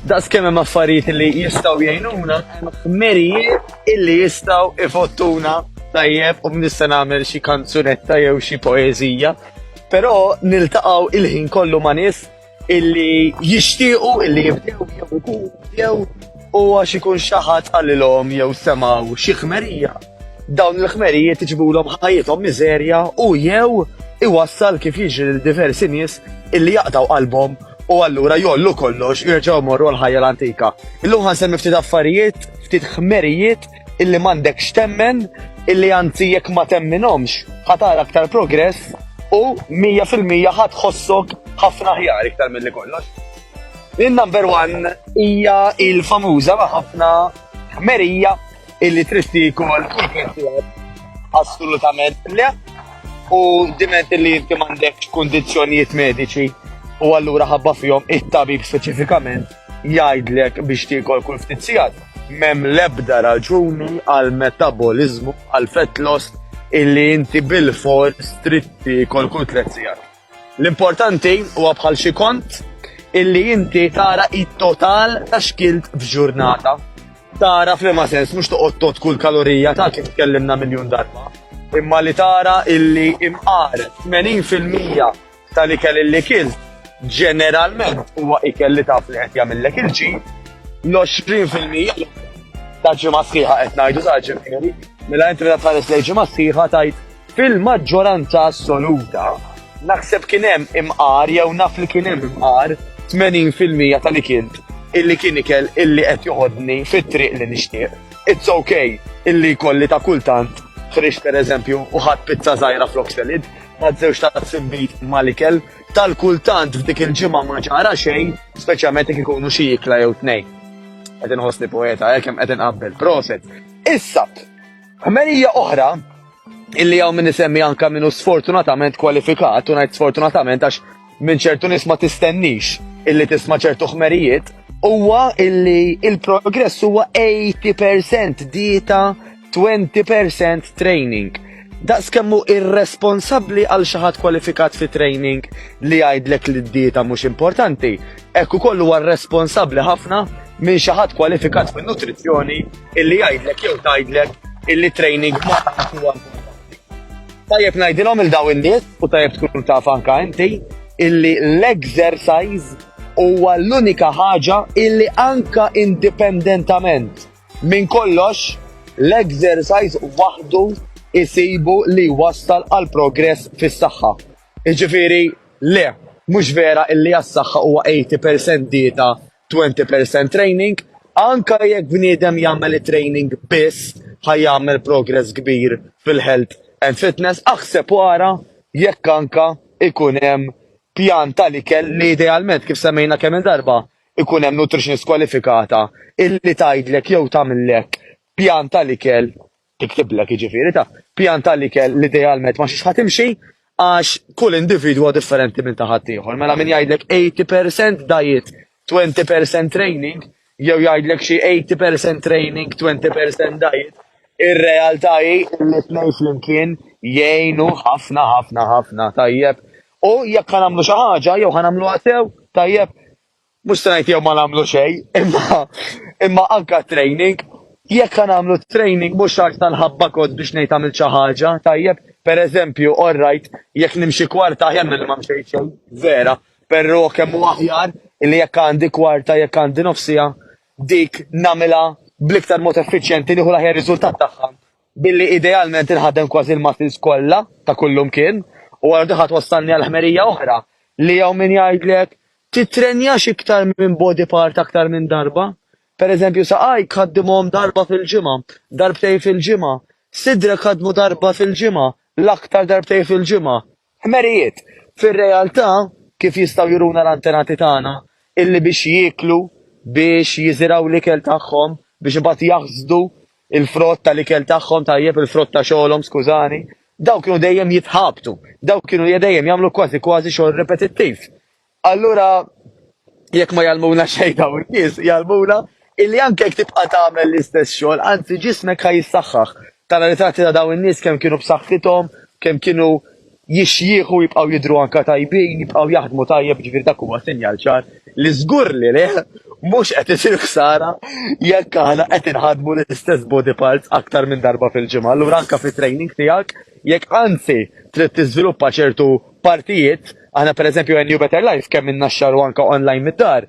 Daqs kemm hemm affarijiet li jistgħu jgħinuna, merijiet illi jistgħu ifottuna tajjeb u nista' nagħmel xi kanzunetta jew xi poeżija. Però niltaqgħu il-ħin kollu ma' nies illi jixtiequ illi jibdew jew ikun jew u għax ikun xaħat għalilhom jew semaw xi ħmerija. Dawn il-ħmerijiet iġbulhom ħajjithom miżerja u jew iwassal kif jiġri l diversi nies illi jaqtaw qalbhom u allura jollu kollox jirġgħu morru l-ħajja l-antika. Illum ħan semmi ftit affarijiet, ftit ħmerijiet illi m'għandekx temmen illi anzi jekk ma temminhomx ħa tara aktar progress u 100% ħa tħossok ħafna aħjar iktar milli kollox. Il-number one hija il-famuża ma' ħafna ħmerija illi tristi kol assolutament le u diment illi inti m'għandekx kundizzjonijiet mediċi u allura ħabba fihom it-tabib speċifikament jgħidlek biex tiekol kull ftit sigħat, m'hemm l-ebda raġuni għal metaboliżmu għal fett loss illi inti bil-for stritti kol kull tliet sigħat. L-importanti huwa bħal xi kont illi inti tara it-total ta' xkilt f'ġurnata. Tara f'liema sens mhux toqgħod tot kull kalorija ta' kif tkellimna miljun darba, imma li tara illi imqar 80% tal-ikel li kilt, ġeneralment huwa ikel li taf li qed jagħmillek il-ġid, l-20 fil-mija l-oħra ta' ġimgħa sħiħa qed ngħidu sa ġifieri, mela inti meta tħares lejn ġimgħa sħiħa tgħid fil-maġġoranza assoluta naħseb kien hemm imqar jew naf li kien hemm imqar 80 fil-mija tal-ikel illi kien ikel illi qed joħodni fit-triq li nixtieq. It's okay illi kolli ta' kultant ħriġ per eżempju u ħadd pizza żgħira flok selid, ma' żewġ tazzi nbid mal-ikel, tal-kultant f'dik il-ġimgħa ma ġara xejn, speċjalment jekk ikunu xi ikla jew tnejn. Qed inħossni poeta, hekk hemm qed inqabbel, proset. Issa, ħmerija oħra illi hawn min isemmi anka minnu sfortunatament kwalifikat, u ngħid sfortunatament għax minn ċertu nies ma tistennix illi tisma' ċertu ħmerijiet huwa illi il-progress huwa 80% dieta 20% training. Daqs kemmu irresponsabbli għal xi ħadd kwalifikat fi training li jgħidlek li d-dieta mhux importanti, hekk ukoll huwa responsabbli ħafna minn xi ħadd kwalifikat fin-nutrizzjoni illi jgħidlek jew tgħidlek illi training ma huwa Tajjeb ngħidilhom il daw in-nies u tajjeb tkun taf anka inti illi l-exercise huwa l-unika ħaġa illi anka indipendentament minn kollox l-exercise waħdu isibu li wassal għal progress fis-saħħa. Iġifieri le, mhux vera illi għas-saħħa huwa 80% dieta Twenty percent training, anke jekk bniedem jagħmel it-training biss ħa jagħmel progress kbir fil-health and fitness, aħseb u ara jekk anke ikun hemm pjan tal-ikel li idealment kif semmejna kemm il darba ikun hemm nutritionist kwalifikata illi tgħidlek jew tagħmillek pjan tal-ikel Tiktibllek jiġifieri ta' pjan ta' l-ikel li idealment ma xiex ħa timxi għax kull individwu hu differenti minn ta' ħaddieħor. Mela min jgħidlek 80 percent diet, 20 percent training jew jgħidlek xi 80 percent training, 20 percent diet, ir-realtà hi li t-tnejn flimkien jgħinu ħafna ħafna ħafna, tajjeb? U jekk ħa nagħmlu xi ħaġa jew ħa nagħmluha sew, tajjeb? Mhux se ngħid jew ma nagħmlu xejn, imma imma anka training, jekk ħa nagħmlu training mhux għax tal-ħabba kod biex ngħid għamilt xi ħaġa, tajjeb, pereżempju, all right, jekk nimxi kwarta aħjar milli ma mxejt xejn, vera, però kemm hu aħjar li jekk għandi kwarta, jekk għandi nofsija, dik nagħmilha bl-iktar mod effiċjenti nieħu l-aħjar riżultat tagħha billi idealment inħadem kważi l-muscles kollha ta' kullum kien u għal diħat wassalni għal ħmerija oħra li jew min jgħidlek Tittrenjax iktar minn body part aktar minn darba? Pereżempju saqajk ħaddimhom darba fil-ġimgħa, darbtejn fil-ġimgħa, sidrek ħaddmu darba fil-ġimgħa, l-aktar darbtejn fil-ġimgħa? Ħmerijiet! Fir-realtà, kif jistgħu juruna l-antenati tagħna, illi biex jieklu, biex jiżirgħu l-ikel tagħhom, biex imbagħad jaħsdu l-frott tal-ikel tagħhom, tajjeb, il-frott ta' xogħolhom, skużani, dawn kienu dejjem jitħabtu, dawn kienu dejjem jagħmlu kważi kważi xogħol ripetittiv. Allura jekk ma jgħallmuna xejn dawn nies, jgħallmuna illi anke jekk tibqa' tagħmel l-istess xogħol, anzi ġismek ħa jissaħħaħ. Tara ritratti ta' dawn in-nies kemm kienu b'saħħithom, kemm kienu jixjieħu jibqgħu jidhru anke tajbin, jibqgħu jaħdmu tajjeb, ġifieri dak huwa sinjal ċar li żgur li le mhux qed isir ħsara jekk aħna qed inħaddmu l-istess body parts aktar minn darba fil-ġimgħa. Allura anke fit-training tiegħek jekk anzi trid tiżviluppa ċertu partijiet Aħna per eżempju New Better Life kemm minna xar u anka online mid-dar,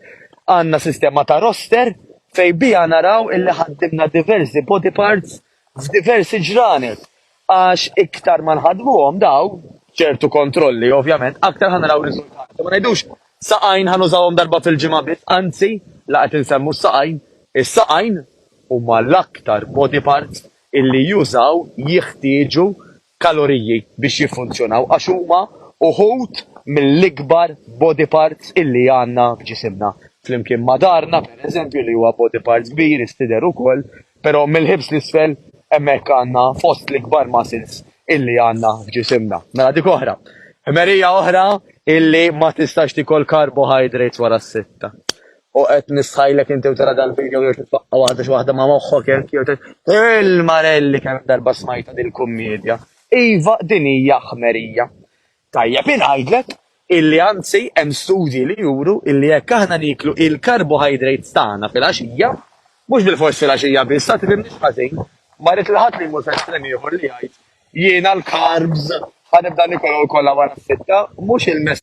għandna sistema ta' roster fej bija naraw illi ħaddimna diversi body parts f'diversi ġranet. Għax iktar ma nħadmuhom daw, ċertu kontrolli ovvjament, aktar ħanaraw riżultati. Ma ngħidux saqajn ħanużawhom darba fil-ġimgħa biss, anzi, la qed insemmu s-saqajn, is-saqajn huma l-aktar body parts illi jużaw, jiħtieġu kaloriji biex jiffunzjonaw għax huma uħud mill-ikbar body parts illi għandna f'ġisimna, flimkien ma' daharna per eżempju li huwa body part kbir istidher ukoll, pero' mill-ħibs 'l isfel hemmhekk għandna fost l-ikbar muscles illi għandna f'ġisimna. Mela dik oħra. Ħmerija oħra illi ma tistax tiekol carbohydrates wara s-sitta. U qed nistħajlek inti u tara dal-video jew titfaqqa' waħda xi waħda ma' moħħok hekk jew il-marelli kemm darba smajta dil-kummedja. Iva din hija ħmerija. Tajjeb ingħidlek illi anzi hemm studji li juru illi jekk aħna nieklu il-carbohydrates tagħna fil-għaxija, mhux bilfors fil-għaxija biss, ha tifhimniex ħażin, ma rrid li ħadd li jmur f'estrem ieħor li jgħid jiena l-carbs ħa nibda niekolhom kollha wara s-sitta, mhux il-messaġġ.